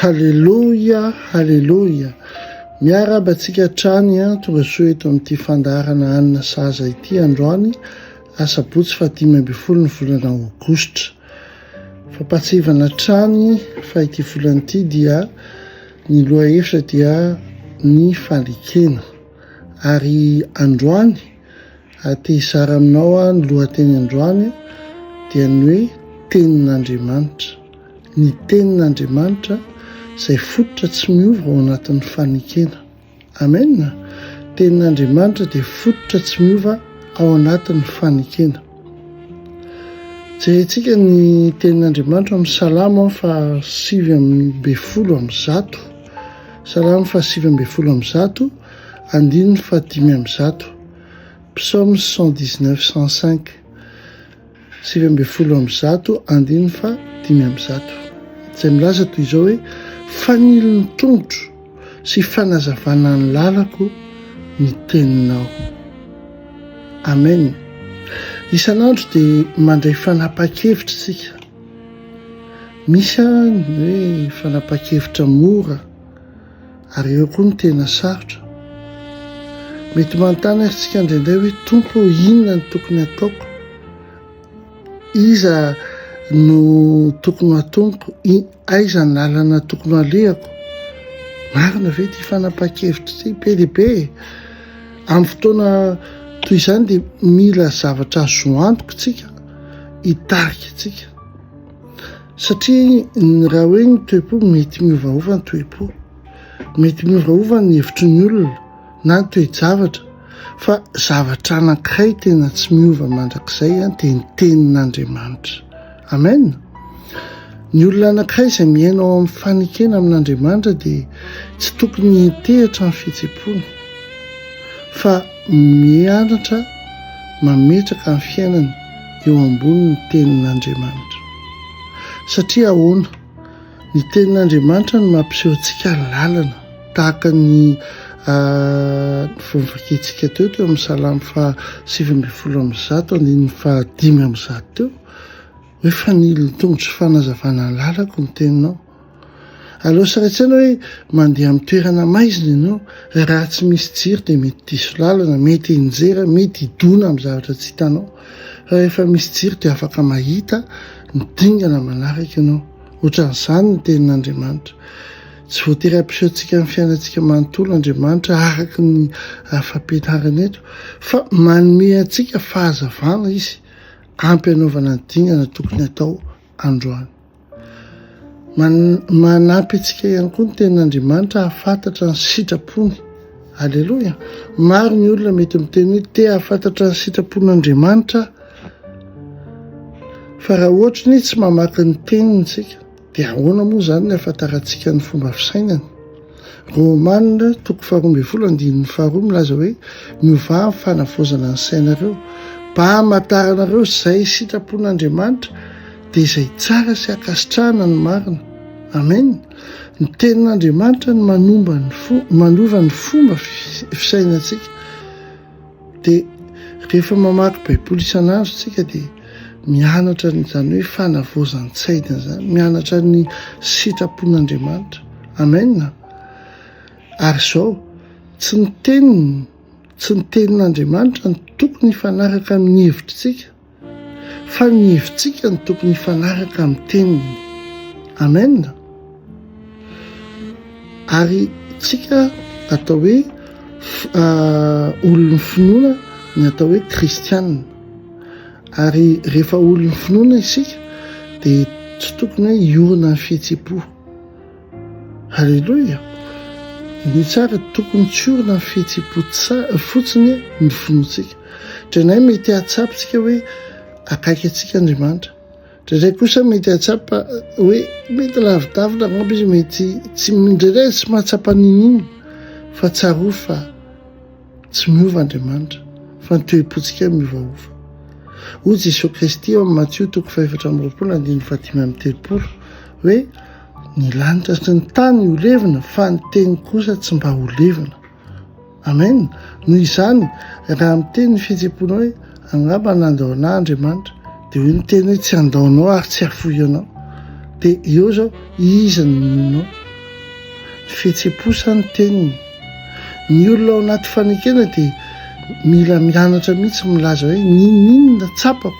Haleloia, haleloia. Miarahaba antsika hatrany an, tonga soa eto amin'ity fandaharana hanina sahaza ity androany, asabotsy fa dimy ambin'ny folo ny volana aogositra. Fampahatsihivana hatrany fa ity volana ity dia ny lohahevitra dia ny falekena. Ary androany Te hizara aminao aho ny lohateny androany dia ny hoe tenin'Andriamanitra. Ny tenin'Andriamanitra izay fototra tsy miova ao anatin'ny fanekena. Amen. Tenin'Andriamanitra dia fototra tsy miova ao anatin'ny fanekena. Jerentsika ny tenin'Andriamanitra amin'ny salamo fa sivy amby folo amin'ny zato. Salamo fa sivy amby folo amin'ny zato. Andininy fahadimy amby zato, Psaumes cent dix neuf cent cinq, sivy ambin'ny folo amby zato, andininy fa dimy amby zato, izay milaza toy izao hoe fanilo ny tongotro sy fanazavana ny lalako ny teninao. Amen. Isan'andro dia mandray fanapahan-kevitra isika. Misy ny hoe fanapahan-kevitra mora. Ary eo koa ny tena sarotra. Mety manontany antsika indraindray hoe Tompo ô inona no tokony ataoko? Iza no tokony ho atomiko? Aiza ny lalana tokony alehako? Marina ve ity fanapahan-kevitra ity be dia be? Amin'ny fotoana toy izany dia mila zavatra azo antoka tsika hitarika antsika. Satria ny raha hoe ny toe-po, mety miovaova ny toe-po, mety miovaova ny hevitry ny olona na ny toe-javatra, fa zavatra anankiray tena tsy miova mandrakizay dia ny tenin'Andriamanitra. Amen. Ny olona anankiray izay miaina ao amin'ny fanekena amin'Andriamanitra dia tsy tokony hiantehitra ny fihetsem-pony fa mianatra mametraka ny fiainany eo ambonin'ny tenin'Andriamanitra. Satria ahoana? Ny tenin'Andriamanitra no mampiseho antsika ny lalana, tahaka ny novakiantsika teo teo amin'ny salamo faha sivy ambin'ny folo amby zato andininy faha dimy amby zato teo hoe fanilo ny tongotro fanazavana ny lalako ny teninao. Aleo sy rain-tsaina hoe mandeha amin'ny toerana maizina ianao, raha tsy misy jiro dia mety diso lalana, mety hianjera, mety hidona amin'ny zavatra tsy hitanao. Fa rehefa misy jiro dia afaka mahita ny dingana manaraka ianao. Ohatran'izany ny tenin'Andriamanitra. Tsy voatery hampiseho antsika ny fiainantsika manontolo Andriamanitra araka ny afa-pianarana eto, fa manome antsika fahazavana Izy, ampy hanaovana ny dingana tokony atao androany. Manampy antsika ihany koa ny tenin'Andriamanitra hahafantatra ny sitrapony. Aleloia. Maro ny olona mety miteny hoe te hahafantatra ny sitrapon'Andriamanitra. Fa raha ohatra ny tsy mamaky ny teniny isika, dia ahoana moa izany ny hahafantarantsika ny fomba fisainany? Romana toko faharoa ambin'ny folo andininy faharoa milaza hoe, Miovà amin'ny fanavaozana ny sainareo, mba hamantaranareo izay sitrapon'Andriamanitra, dia izay tsara sy ankasitrahana no marina. Amen. Ny Tenin'Andriamanitra no manova ny fomba fisainantsika. Dia rehefa mamaky Baiboly isan'andro isika dia mianatra an'izany hoe fanavaozan-tsaina izany, mianatra ny sitrapon'Andriamanitra. Amen. Ary izao, tsy ny teniny, tsy ny tenin'Andriamanitra no tokony hifanaraka amin'ny hevitritsika. fa ny hevitsika no tokony hifanaraka amin'ny teniny. Amen. Ary tsika atao hoe uh, olon'ny finoana ny atao hoe kristianina. Ary rehefa olon'ny finoana isika dia tsy tokony hoe hiorina ny fihetsi-po. Aleloia! Ny tsara tokony tsy orina ny fihetsem-po fotsiny ny finoantsika. Indraindray mety hahatsapantsika hoe akaiky antsika Andriamanitra. Indraindray kosa mety hahatsapa hoe mety lavidavitra angamba izy, mety tsy indraindray tsy mahatsapa n'inona fa tsarovy fa tsy miova Andriamanitra fa ny toe-pontsika miovaova. Hoy Jesoa Kristy ao amin'ny Matio toko fahefatra amby roapolo andininy fahadimy amby telopolo hoe Ny lanitra sy ny tany ho levona fa ny teny kosa tsy mba ho levona. Amen. Noho izany, raha miteny ny fihetseham-pony hoe angamba nandao anah Andriamanitra, dia hoe ny teny hoe tsy handao anao ary tsy hafoy anao. Dia eo izao, iza no ninoanao? Ny fihetseham-po sa ny teniny? Ny olona ao anaty fanekena dia mila mianatra mihitsy milaza hoe ninoninona tsapako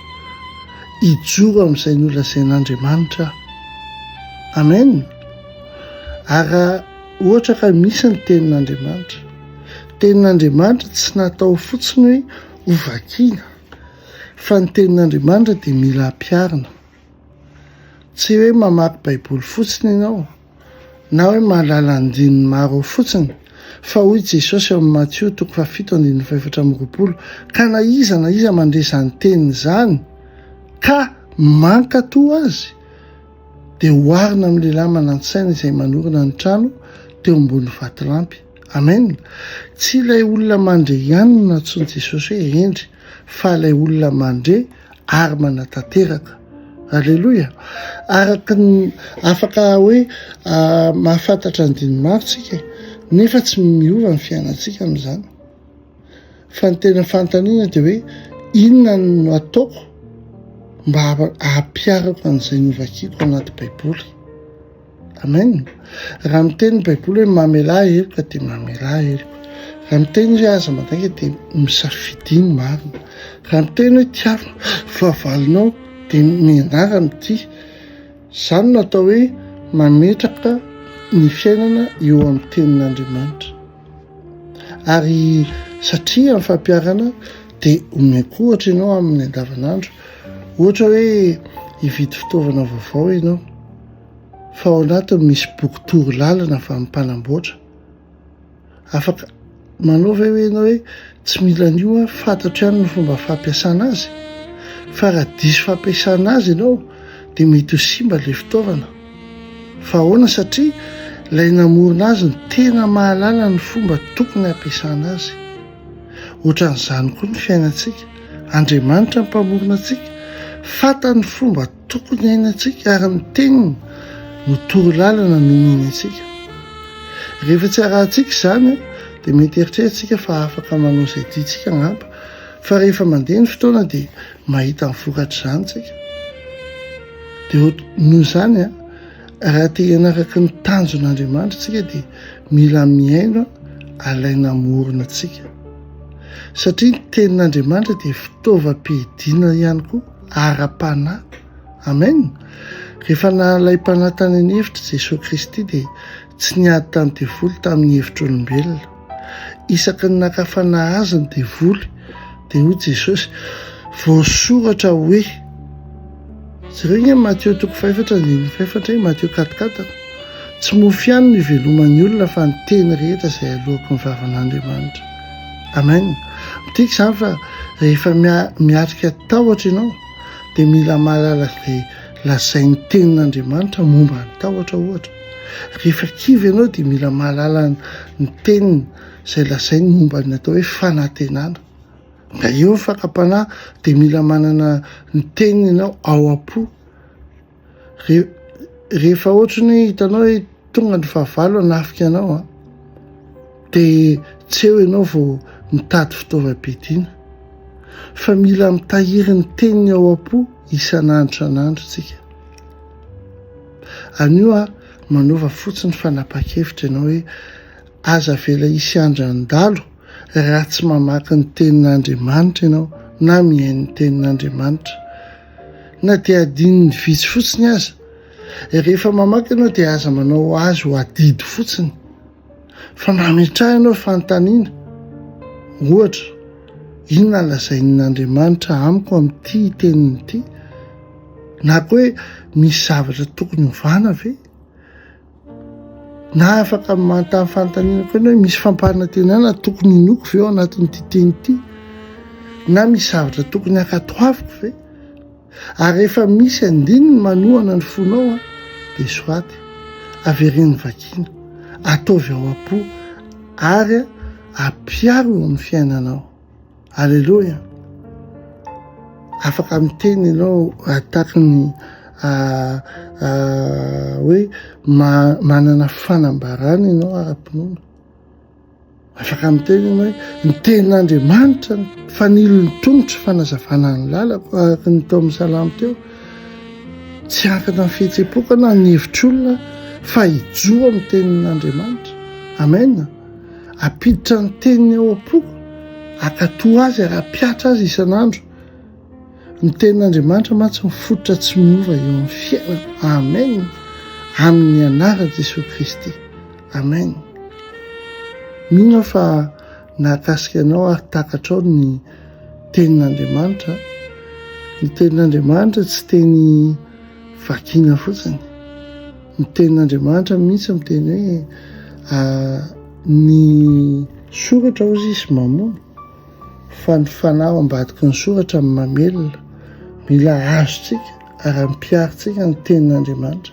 hijoro amin'izay nolazain'Andriamanitra aho. Amen! Ary raha ohatra ka misy ny tenin'Andriamanitra, tenin'Andriamanitra tsy natao fotsiny hoe ho vakiana, fa ny tenin'Andriamanitra dia mila ampiharina. Tsy hoe mamaky Baiboly fotsiny ianao, na hoe mahalala andininy maro ao fotsiny, fa hoy Jesosy ao amin'ny Matio toko fahafito andininy fahefatra amby roapolo, ka na iza na iza mandre izany teniny izany, ka mankatò azy, dia oharina amin'ny lehilahy manan-tsaina izay manorina ny trano teo ambony vatolampy. Amen. Tsy ilay olona mandre ihany no nantsoin'i Jesosy hoe hendry, fa ilay olona mandre ary manatanteraka. Aleloia. Araka ny afaka hoe ah, mahafantatra ny dinimaritsika, nefa tsy miova ny fiainantsika amin'izany. Fa ny tena fanontaniana dia hoe inona no ataoko mba hahapiarako an'izay novakiako anaty Baiboly. Amen. Raha miteny ny Baiboly hoe mamelà heloka dia mamelà heloka. Raha miteny hoe aza mandainga dia misafidiny marina. Raha miteny hoe tiavina fahavalonao dia mianara mitia. Izany no atao hoe mametraka ny fiainana eo amin'ny tenin'Andriamanitra. Ary satria amin'ny fampiharana dia omeko ohatra ianao amin'ny andavanandro. Ohatra hoe hividy fitaovana vaovao ianao fa ao anatiny misy boky toro lalana fa mpanamboatra. Afaka manao ve hoe ianao hoe Tsy mila an'io aho, fantatro ihany ny fomba fampiasana azy, fa raha diso fampiasana azy ianao dia mety ho simba ilay fitaovana. Fa ahoana? Satria ilay namorona azy no tena mahalala ny fomba tokony hampiasana azy. Ohatran'izany koa ny fiainantsika, Andriamanitra ny mpamorona antsika, fantany ny fomba Tokony hainantsika ary ny teniny no toro lalana nomeny antsika. Rehefa tsy arahintsika izany dia mety eritreretintsika fa afaka manao izay tiantsika angamba, fa rehefa mandeha ny fotoana dia mahita ny vokatr'izany isika. Dia noho izany, raha te hanaraka ny tanjon'Andriamanitra isika dia mila mihaino alaina hamorona antsika. Satria ny tenin'Andriamanitra dia fitaovam-piadiana ihany koa. ara-panahy. Amen. Rehefa nahalaim-panahy tany an'efitra i Jesoa Kristy dia tsy niady tamin'ny devoly tamin'ny hevitr'olombelona. Isaky ny naka fanahy azy ny devoly dia hoy Jesosy, voasoratra hoe, jereo nge Mateo toko fahefatra andininy fahefatra e, Mateo katokatona, tsy mofo ihany no iveloman'ny olona fa ny teny rehetra izay aloako ny vavan'Andriamanitra. Amen. Midika izany fa rehefa miatrika tahotra ianao dia mila mahalala izay lazain'ny tenin'Andriamanitra momba ny tahotra ohatra. Rehefa kivy ianao dia mila mahalala ny teniny izay lazainy momba ny atao hoe fanantenana. Na eo ny fakam-panahy dia mila manana ny teniny ianao ao am-po. rehefa ohatry ny hoe hitanao hoe tonga ny fahavalo hanafika anao a dia tsy eo ianao vao mitady fitaovam-piadiana fa mila mitahiry ny teniny ao am-po isan'andro isan'andro tsika anio a manova fotsiny fanapa-kevitra ianao hoe aza avela hisy andran-dalo raha tsy mamaky ny tenin'Andriamanitra ianao na mihaino ny tenin'Andriamanitra Na dia adinony vitsy fotsiny aza. Rehefa mamaky ianao dia aza manao azy ho adidy fotsiny. Fa mba metrahanao fanontaniana. Ohatra, inona no lazain'Andriamanitra amiko amin'ity teniny ity? Na koa hoe misy zavatra tokony hovana ve? Na afaka manontany fanontaniana koa ianao hoe misy fampanantenana tokony inoako ve ao anatin'ity teny ity? Na misy zavatra tokony hankatoaviko ve? Ary rehefa misy andininy manohana ny fonao dia soaty, averen'ny vakiana, ataovy ao am-po ary ampiaro eo amin'ny fiainanao. Alléluia. Afaka miteny ianao ataky ny ah, ah, hoe manana fanambarana ianao ara-pinoana. Afaka miteny ianao hoe ny tenin'Andriamanitra ny fanilon'ny tongotro fanazavana ny lalako araka ny tao amin'ny salamo teo. Tsy ankana ny fihetsem-poko na ny hevitr'olona fa hijoa amin'ny tenin'Andriamanitra. Amen. Ampiditra ny teniny ao am-poko, akato azy ary ampiatra azy isan'andro. Ny tenin'Andriamanitra mantsy mifototra tsy miova eo amin'ny fiainana. Amen. Amin'ny anaran'i Jesoa Kristy. Amen. Mino aho fa nahakasika anao ary takatrao ny tenin'Andriamanitra. Ny tenin'Andriamanitra tsy teny vakina fotsiny. Ny tenin'Andriamanitra mihitsy miteny hoe ah, ny soratra hoy izy mamono fa ny fanahy ao ambadiky ny soratra ny mamelona. Mila azontsika ary ampiharintsika ny tenin'Andriamanitra.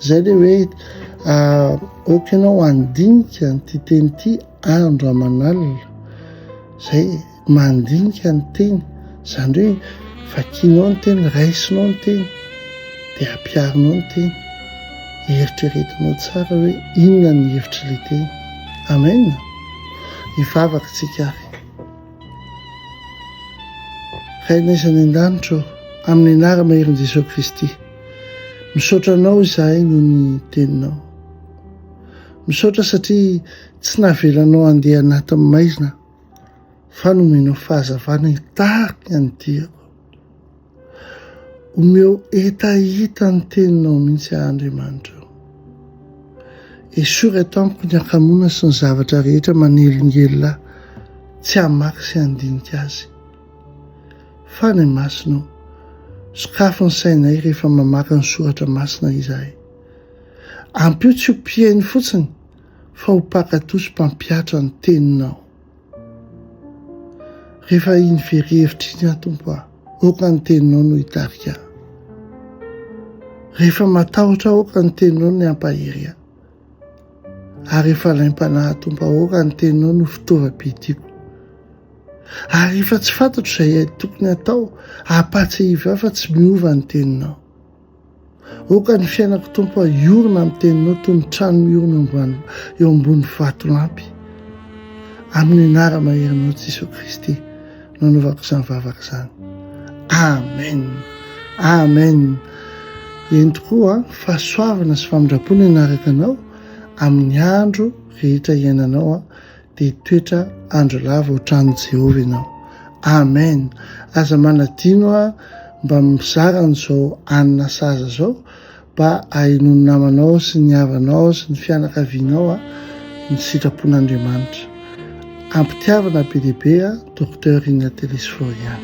Izay dia hoe ah, aoka ianao handinika an'ity teny ity andro aman'alina. Izay, mandinika ny teny, izany hoe vakinao ny teny, raisinao ny teny dia ampiharinao ny teny, eritreretinao tsara hoe inona ny hevitr'ilay teny. Amen. Hivavaka tsika avy. Rainay izany an-danitra amin'ny anarana herin'i Jesoa Kristy. Misaotra anao izahay noho ny teninao. Misaotra satria tsy navelanao handeha anatin'ny maizina fa nomena fahazavana hitarika ny diako. Omeo hetaheta ny teninao mihitsy aho Andriamanitra. Esory eto amiko ny hakamoana sy ny zavatra rehetra manelingelina tsy hamaky sy handinika azy. Fa ny masina ao, sokafo ny sainay rehefa mamaky ny soratra masina izahay. Ampio tsy ho mpihaino fotsiny fa ho mpankatò sy mpampihatra ny Teninao. Rehefa iny very hevitra iny aho, Tompo a, aoka ny Teninao no hitarika ahy. Rehefa matahotra aho, aoka ny Teninao no hampahery ahy. Ary rehefa laim-panahy, Tompo, aoka ny Teninao no fitaovam-pihitiako. Ary rehefa tsy fantatro izay tokony atao, ampahatsiahivo ahy fa tsy miova ny Teninao. Aoka ny fiainako Tompo a hiorina amin'ny teninao toy ny trano miorina ambany eo ambony vatolampy. Amin'ny anara-maherinao Jesoa Kristy no anaovako izany vavaka izany. Amen. Amen. Eny tokoa fahasoavana sy famindram-po ny hanaraka anao amin'ny andro rehetra iainanao. dia toetra andro lava ohatran'i Jehovah ianao. Amen! Aza manadino a mba mizara an'izao anona saza izao mba ahenoan'ny namanao sy ny havanao sy ny fianakavianao a ny sitrapon'Andriamanitra. Ampitiavana be dia be a Docteur Inatelis Florian.